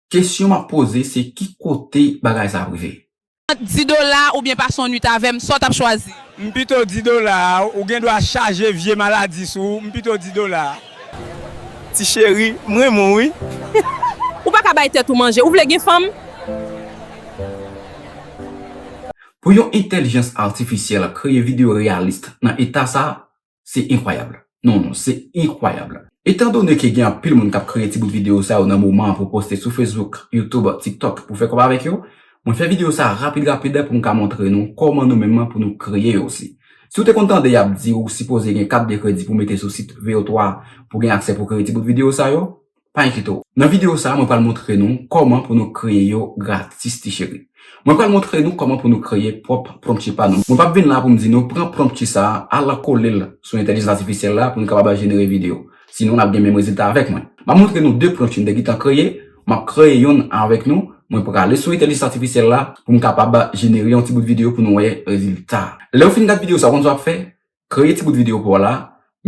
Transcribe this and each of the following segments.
Kesyon map poze se ki kote bagay sa ap rive? Ant 10 dola oubyen pase yon nwit avèm sa w tap chwazi? M pito di dola a, ou gen dwa chaje vye maladi sou ou, m pito di dola a. Ti cheri, m renmen w wi. Ou pa ka bay tèt ou manje, ou vle gen fanm? Pou yon entèlijans atifisyèl kreye videyo reyalis nan eta sa, Se enkwayab. Non, non, se enkwayab. Etan done ke gen anpil moun kap kreye ti bout video sa yo nan moman an pou poste sou Facebook, YouTube, TikTok pou fè kòb avèk yo, mwen fè video sa rapid rapid pou m ka montre nou kòman nou menm pou nou kreye yo osi. Si w te konn tande yap di ou sipoze gen kat de kredi pou mete sou sit VO3 pou gen aksè pou kreye ti bout video sa yo, pa enkyete w. Nan video sa mwen pral montre nou kòman pou nou kreye yo gratis ti cheri. Mwen pral montre nou kòman pou nou kreye pwòp prompti pa nou. Mwen pap vin la pou m di nou pran prompti sa al kole l sou entèlijans atifisyèl la pou nou kapab al jenere video. Sinon nap gen menm rezilta avèk mwen. Map montre nou 2 prompti m te gentan kreye, map kreye yonn avèk nou, mwen prale sou entèlijans atifisyèl la pou m kapab jenere yon ti bout video pou nou wè rezilta. Lèw fin gad video sa ou konn sa wap fè, Kreye ti bout videyo pa w la,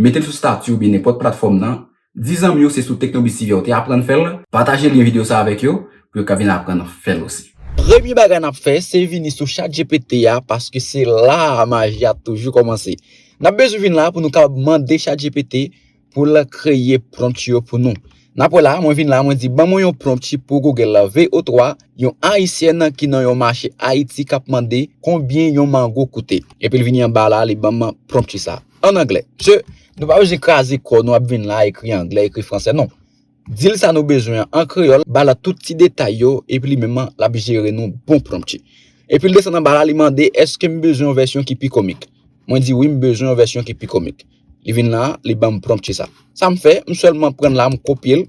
mete l sou stati oubyen nenpòt platfòm nan, di zanmi yo se sou Teknobis TV a w te aprann fè l, pataje lyen videyo sa avèk yo pou yo ka vin aprann fè l osi. Premye bagay n ap fè se vini sou chatgpt a paske se la a maji a toujou kòmanse. N ap bezwen vin la pou nou kapab mande chatgpt pou l kreye prompt yo pou nou. N ap wè la, mwen vin la, mwen di ban mwen yon prompt pou Google la, VO3, yon Ayisyèn ki nan yon mache Ayiti k ap mande konbyen yon mango koute. Epi l vini anba la, li ban m prompt sa. An anglè. Msye, nou pa bezwen kraze kò nou ap vin la ekri anglè, ekri fransè, non. Dil sa nou bezwen an an kreyòl ba la tout ti detay yo epi li menm an lap jere nou bon prompti. Epil desann anba la li mande eskem bezwen yon vèsyon ki pi komik mwen di wi m bezwen yon vèsyon ki pi komik li vin la li banm prompti sa sam fè m sèlman prann la m kopyel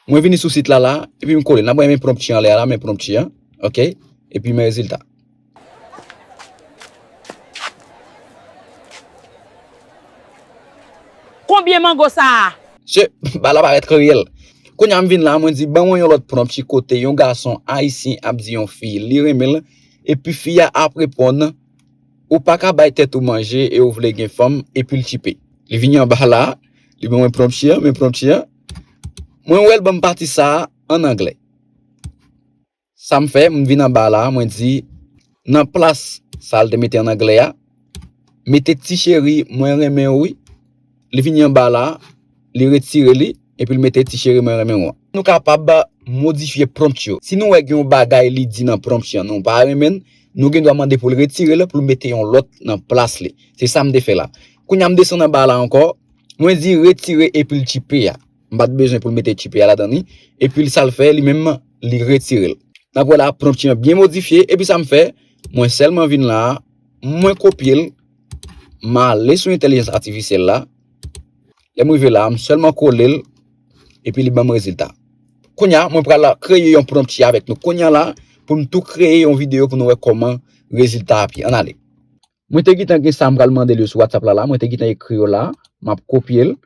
mwen vini sou sit la la epi m kolel nap renmen prompti anlè a la men prompti an ok epi men rezilta. Konbyen mango sa a? Mesye, bagay la parèt reyèl. Kounye a m vin la, mwen di ban mwen yon lòt pranp ki kote yon gason ayisyen ap di yon fi li renmen l, epi fi a ap reponn, Ou pa ka bay tèt ou manje e ou vle gen fanm, epi l tchipe. Li vini anba la, li ban mwen pranp si a, men pranp si a, mwen wè l ban m pati sa a ann anglè. Sa m fè, m vin anba la a, mwen di, nan plas sa a li te mete an anglè a, mete ti cheri mwen renmen ou wi. Li vini anba la a, li retire li, epi li mete ti cheri mwen renmen ou an. Nou kapab modifye prompt yo. Si nou wè gen yon bagay li di nan prompt lan nou pa renmen l, nou gen dwa mande pou l retire l, pou l mete yon lòt nan plas li. Se sa m te fè la. Kounye a m desann anba la ankò, mwen di retire epil chipe a. M pat bezwen pou l mete tchipi a ladan li. Epi l sa l fè li menm li retire l. N ap wè la pnopti an byen modifye. Epi sa m fè, mwen sèlman vin la a, mwen kopye l, m ale sou entèlijans atifisyèl la. Lè m rive la a, m sèlman kole l, epi li ban m rezilta. Kounye a, mwen pral kreye yon pnopti avèk nou kounye a la a pou n tou kreye yon videyo pou nou wè kòman rezilta ap ye. Ann ale. Mwen te gentan gen sa m pral mande l yo sou Whatsapp la la. Mwen te gentan ekri yo la a. M ap kopye l.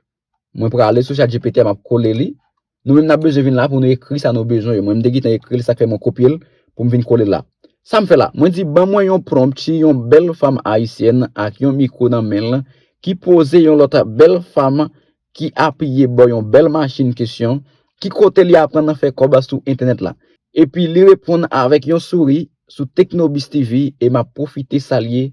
Mwen prale sou chatgpt a map kole li. Nou menm nap bezwen vin la pou nou ekri sa nou bezwen yo. Mwen m te gentan ekri l sak fè mwen kopye l pou m vin kole l la. Sam fè la? Mwen di ban mwen yon prompt si yon bèl fanm ayisyèn ak yon mikwo nan men l ki poze yon lòt bèl fanm ki apiye bò yon bèl machin kesyon ki kote li aprann fè kòb sou entènèt la. Epi li reponn avèk yon souri sou Teknobiztv e map pwofite salye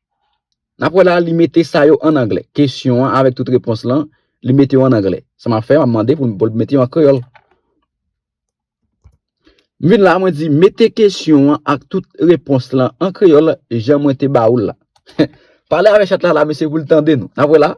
N ap wè la, li mete sa yo an anglè. Kesyon an avèk tout repons lan, li mete yo an anglè. Sa m ap fè, m ap mande pou l mete yo an kreyòl. M vin la, mwen di, mete kesyon an ak tout repons lan an kreyòl jan mwen te ba ou l la. Pale avèk chat la la, mesye, pou l tande nou. N ap wè la.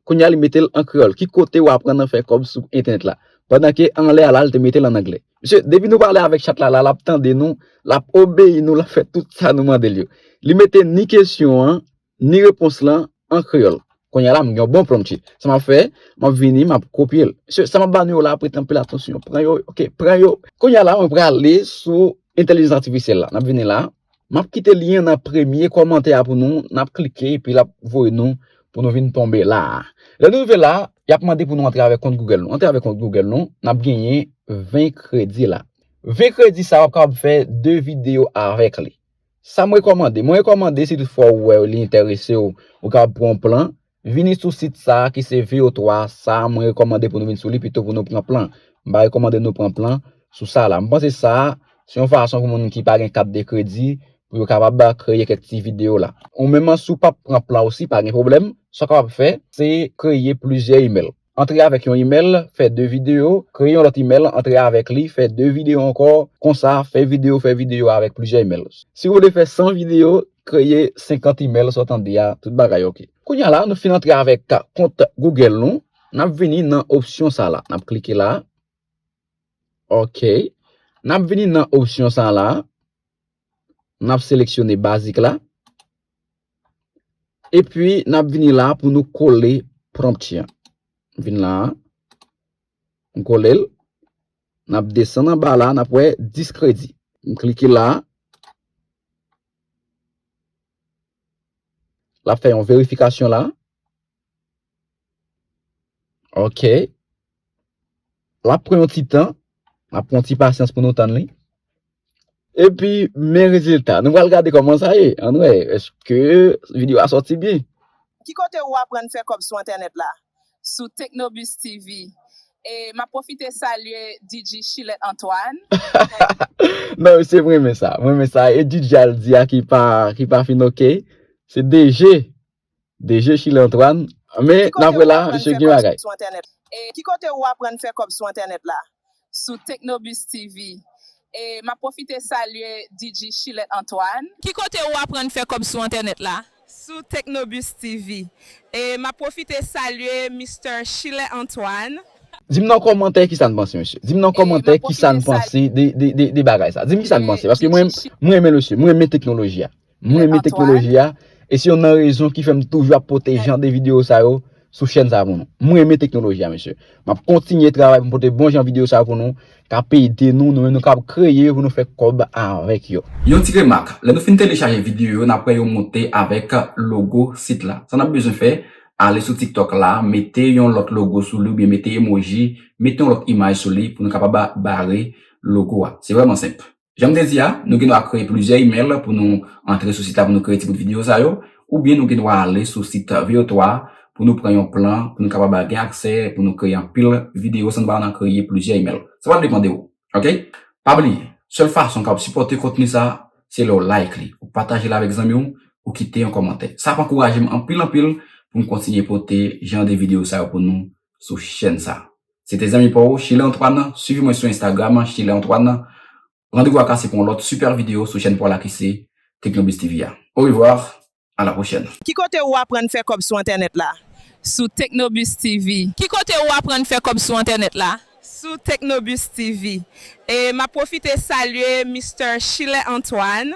Kounye a li mete l an kreyòl. Ki kote ou aprann nan fè kòb sou entènèt la? Pandan ke anlè a la li te mete l an anglè. Mesye, depi nou pale avèk chat la la, l ap tande nou, l ap obeyi nou, l ap fè tout sa nou mande l yo. Li mete ni kesyon an, ni repons lan an kreyòl. Kounye a la m gen yon bon plan mesye. Sa m ap fè, m ap vini, m ap kopye l. Mesye, sa m ap ba nou yo la, prete anpil atansyon. Pran yo, ok, pran yo. Kounye a la mwen prale sou entèlijans atifisyèl la. N ap vini la. Map kite lyen an nan premye kòmantè a pou nou, nap klike epi lap voye nou pou nou vin tonbe la a. Lè nou rive la a, yap mande pou nou antre avèk kont Google nou. Antre avèk kont Google nou, nap genyen 20 kredi la. 20 kredi sa a wap kapab fè 2 videyo avèk li. Sam rekòmande, mwen rekòmande si tout fwa ou wè li enteresew, ou kapab pran yon plan, Vini sou sit sa ki se VO 3 sa mwen rekòmande pou nou vin sou li pito pou nou pran plan. M pa rekòmande nou pran plan sou sa la. M panse sa se yon fason pou moun ki pa gen kat de kredi pou yo kapab kreye kèk ti videyo la. Ou menm si w pap pran plan ou si pa gen pwoblèm, sa w kapab fè se kreye plizyè imèl. antre avèk yon imèl, fè 2 videyo, kreye yon lòt imèl, antre avèk li, fè 2 videyo ankò, konsa, fè videyo, fè videyo avèk plizyè imèl. Si ou vle fè 100 videyo, kreye 50 imèl sa w tande ya, tout bagay ok. Kounye a la nou fin antre avèk kont Google nou, n ap vini nan opsyon sa la, n ap klike la, ok, n ap vini nan opsyon sa la, N ap seleksyone bazik la. Epi n ap vini la pou nou kole prompt ya. Vin la. M kole l. N ap desann anba la. N ap wè 10 kredi. M klike la. L ap fè yon verifikasyon la. Ok. Lap pran yon ti tan. Lap pran yon ti pasyans pou nou tann li. E pi men rezilta. Nou pral gade koman sa ye. An wè. Eske video a soti byen. Ki kote ou aprann fè kòb sou entènèt la? Sou Teknobis TV. E map pwofite salye DJ Chilèt Antoine. Non mesye m renmen sa. M renmen sa. E DJ al di a ki pa fin ok. Se DG. De je chile Antoine Men nap wè la misye gen bagay. Ki kote ou aprann fè kòb sou entènèt la? Sou Teknobis TV. Map pwofite salye DJ Chile Antoine. Ki kote ou aprann fè kòb sou entènèt la? Sou Teknobis TV. Map pwofite salye Mister Chile Antoine. Dim nan kòmantè kisa n panse mesye dim nan kòmantè kisa n panse de bagay sa dim kisa n panse paske mwen renmen le sye mwen renmen teknoloji a. M renmen teknoloji a, e se yonn nan rezon ki fè m toujou ap pote jan de videyo sa yo sou chèn sa pou nou. M renmen teknoloji a mesye. M ap kontinye travay pou m pote bon jan videyo sa pou nou, k ap ede nou, nou menm nou kab kreye yo pou nou fè kòb avèk yo. Yon ti remak, lè nou fin telechaje videyo yo n ap wè yo monte avèk logo sit la. Sa n ap bezwen fè, ale sou TikTok la, mete yon lòt logo sou li oubyen mete emoji, mete yon lòt imaj sou li pou nou kapab bare logo a. Se vrèman senp. Jan m te di a, nou gen dwa kreye plizyè imèl pou nou antre sou sit la pou nou kreye ti bout videyo sa yo, oubyen nou gen dwa ale sou sit VO3 a pou nou pran yon plan pou nou kapab gen aksè pou nou kreye anpil videyo san nou pa nan kreye plizyè imèl. Sa pral depan de ou. Ok. Pa bliye, sèl fason ou kapab sipòte kontni sa, se lè ou like li, ou pataje l avèk zanmi w, ou kite yon kòmantè. Sa ap ankouraje m anpil anpil pou m kontinye pote jan de videyo sa yo pou nou sou chèn sa. Se te zanmi pa w, Shirley Antoine an, swiv mwen sou Instagram an, Shirley Antoine. Randevou a kase pou yon lòt super video sou chèn pa w la ki se Technobiz TV a. Au revoir, à la prochaine. Ki kote ou aprann fè kòb sou entènèt la? Sou Technobiz TV. Ki kote ou aprann fè kòb sou entènèt la? Sou Technobiz TV. E map pwofite salye Mister Shirley Antoine.